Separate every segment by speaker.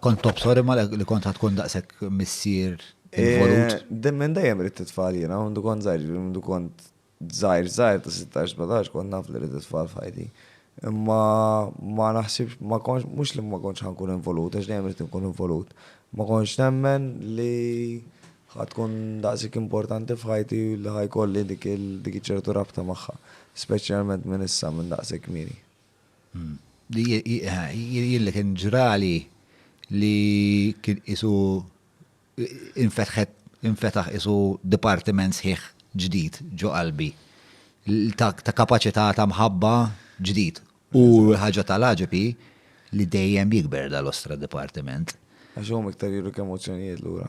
Speaker 1: Kont tobsor imma li kont ħad tkun daqshekk missier involut? Eh, minn dejjem rrid
Speaker 2: titfal jiena, għandu kont żgħir, għandu kont żgħir żgħir ta' 16-17 kont naf li rrid titfal f'ħajti. Imma ma naħsibx, ma konx, mhux li ma kontx ħankun involut, għax dejjem rrid inkun involut. Ma konx nemmen li ħatkun daqsik importanti f'ħajti li ħajkolli dik ċertu rabta magħha, speċjalment minn issa minn daqshekk kmieni. Li
Speaker 1: jilli kien ġrali li kien isu infetħet infetaħ isu dipartiment sħiħ ġdid ġo qalbi ta' kapaċità ta' mħabba ġdid. U ħaġa tal-għaġeb hi li dejjem jikber dal-ostra dipartiment. Għax huma iktar
Speaker 2: juru kemm emozzjonijiet lura.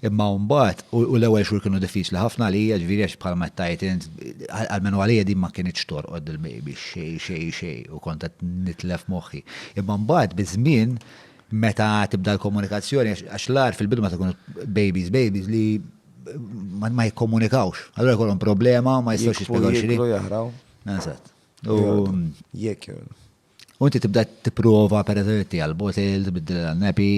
Speaker 1: Imma mbagħad, u l-ewwel xhur kienu diffiċli ħafna għalija, ġifieri għax bħalma qed tgħid int, almenu għalija din ma kinitx torqod dil-baby xejn xejn xejn u kont qed nitlef moħħi. Imma mbagħad biż-żmien meta tibda l-komunikazzjoni għax l-agħar fil-bidu meta jkunu babies babies li ma jikkomunikawx. Allura jkollhom problema ma jistgħux jispjegaw xi. Jikru jaħraw.
Speaker 2: Eżatt.
Speaker 1: U
Speaker 2: jekk.
Speaker 1: U inti tibda tipprova per eżempju tija l-botil, tbiddil l-nepi.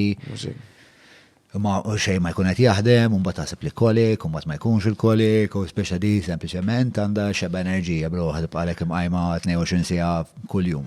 Speaker 1: Ma xej ma jkun qed jaħdem, un bat taħseb li kolik, un bat ma jkunx il-kolik, u speċa di sempliċement għandha xeba enerġija bro ħadib għalek imqajma 22 sija kuljum.